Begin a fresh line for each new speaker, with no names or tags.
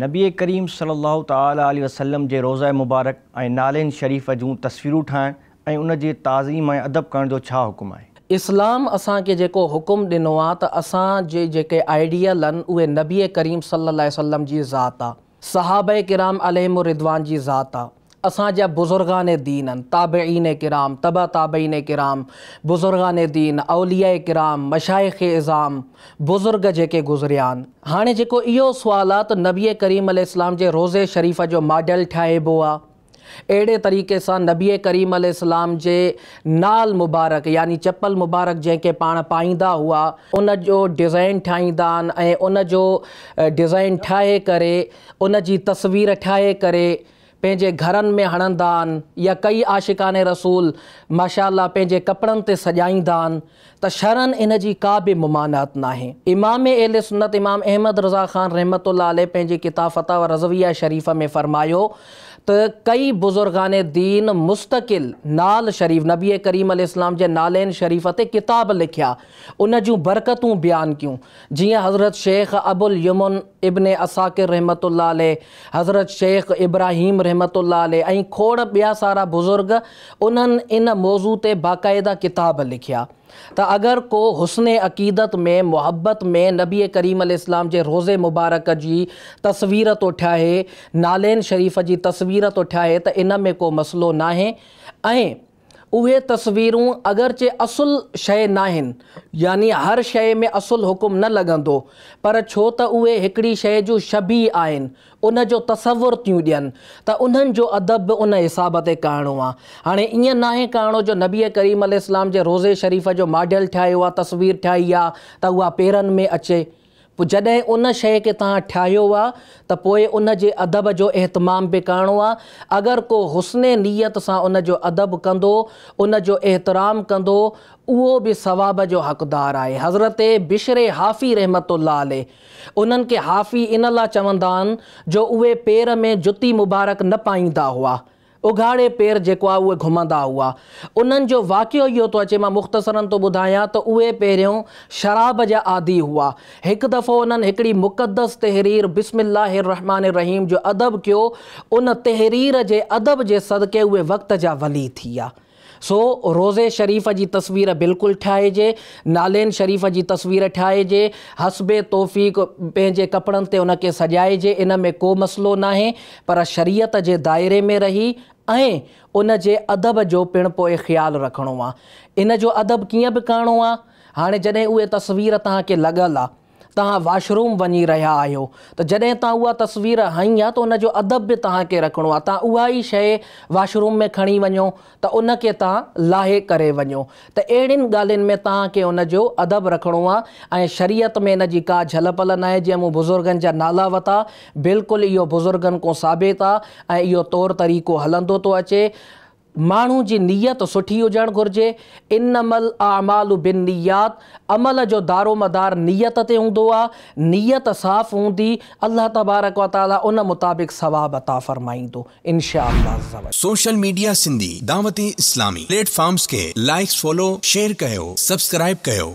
نبي ڪريم صلي الله تعالٰي عليه وسلم جي روضه مبارڪ ۽ نعلين شريف جون تصويرون ٺاهڻ ۽ ان جي تعظيم ۽ ادب ڪرڻ جو ڇا حڪم آهي؟ اسلام اسان
کي جيڪو حڪم ڏنو آهي ته اسان جي جيڪي آئيڊيل آهن اهي نبي ڪريم صلي الله عليه وسلم جي ذات آهي، صحابه ڪرام عليهم الرضوان جي ذات آهي، اسان جا بزرگان دين، تابعين ڪرام، تبع تابعين ڪرام، بزرگان دين، اولياء ڪرام، مشائخ عظام، بزرگ جيڪي گذريا آهن. هاڻي جيڪو اهو سوال آهي ته نبي ڪريم عليه السلام جي روضي شريف جو ماڊل ٺاهبو آهي. اهڙي طريقي سان نبي ڪريم عليه السلام جي نعل مبارڪ يعني چپل مبارڪ جنهن کي پاڻ پائيندا هئا ان جو ڊزائين ٺاهيندا آهن ۽ ان جو ڊزائين ٺاهي ڪري ان جي تصوير ٺاهي ڪري پنهنجي گهرن ۾ هڻندا آهن يا ڪيئي عاشقان رسول ماشاء الله پنهنجي ڪپڙن تي سڄائيندا آهن ته شرعن ان جي ڪا به ممانعت ناهي. امام اهل سنت امام احمد رضا خان رحمة الله عليه پنهنجي ڪتاب فتاويٰ رضويه شريفه ۾ فرمايو ته ڪيئي بزرگان دين مستقل نعل شريف نبي ڪريم عليه السلام جي نعلين شريفه تي ڪتاب لکيا ان جون برڪتون بيان ڪيون جيئن حضرت شيخ ابوااليمن ابن عساڪر رحمة الله عليه، حضرت شيخ ابراهيم رحمة الله عليه ۽ کوڙ ٻيا سارا بزرگ انهن ان موضوع تي باقاعده ڪتاب لکيا ته اگر ڪو حسن عقيدت ۾ محبت ۾ نبي ڪريم عليه السلام جي روضي مبارڪ جي تصوير ٿو ٺاهي نعلين شريف جي تصوير ٿو ٺاهي ته ان ۾ ڪو مسئلو ناهي ۽ اهي تصويرون اگرچه اصل شيء ناهن، يعني هر شيء ۾ اصل حڪم نه لڳندو، پر ڇو ته اهي هڪڙي شيء جون شبيهه آهن، ان جو تصور ٿيون ڏين، ته انهن جو ادب به ان حساب تي ڪهڻو آ. هاڻي ائين ناهي ڪهڻو جو نبيء ڪريم عليه السلام جي روضي شريف جو ماڊل ٺاهيو آ، تصوير ٺاهي آ، ته اها پيرن ۾ اچي. پوء جڏهن ان شيء کي توهان ٺاهيو آ ته پوء ان جي ادب جو اهتمام به ڪرڻو آ. اگر ڪو حسن نيت سان ان جو ادب ڪندو، ان جو احترام ڪندو، اهو به ثواب جو حقدار آهي. حضرت بشر حافي رحمة الله عليه انهن کي حافي ان لا چوندا آن جو اهي پير ۾ جتي مبارڪ نه پائيندا هئا. اگهاڙي پير جيڪو آ اهي گهمندا هئا. انهن جو واقعو اهو ٿو اچي مان مختصراً ٿو ٻڌايان ته اهي پهريون شراب جا عادي هئا. هڪ دفعو انهن هڪڙي مقدس تحرير بسم الله الرحمٰن الرحيم جو ادب ڪيو ان تحرير جي ادب جي صدقي اهي وقت جا ولي ٿي ويا. سو روضي شريف جي تصوير بلڪل ٺاهجي، نالين شريف جي تصوير ٺاهجي، حسب توفيق پنهنجي ڪپڙن تي ان کي سجائجي ان ۾ ڪو مسئلو ناهي پر شريعت جي دائري ۾ رهي ۽ ان جي ادب جو پڻ پوء خيال رکڻو آ. ان جو ادب ڪيئن به ڪرڻو آ. هاڻي جڏهن اهي تصوير توهان کي لڳل آ. توهان واش روم وڃي رهيا آهيو ته جڏهن توهان اها تصوير هنئي ها ته ان جو ادب به توهان کي رکڻو آهي توهان اها ئي شئي واش روم ۾ کڻي وڃو ته ان کي توهان لاهي ڪري وڃو ته اهڙين ڳالهين ۾ توهان کي ان جو ادب رکڻو آهي ۽ شريعت ۾ ان جي ڪا جهل پل ناهي جيئن مون بزرگن جا نالا وتا بلڪل اهو بزرگن ڪون ثابت آهي ۽ اهو طور طريقو هلندو ٿو اچي ماڻهو جي نيت سٺي هجڻ گهرجي، انما الاعمال بالنيات، عمل جو دارومدار نيت تي هوندو آهي، نيت صاف هوندي، الله تبارڪ و تعاليٰ ان مطابق ثواب عطا فرمائيندو ان شاء الله عزّوجلّ. سوشل ميڊيا
سنڌي دعوت اسلامي پليٽ فارمز کي لائيڪس فالو شيئر ڪيو سبسڪرائيب ڪيو.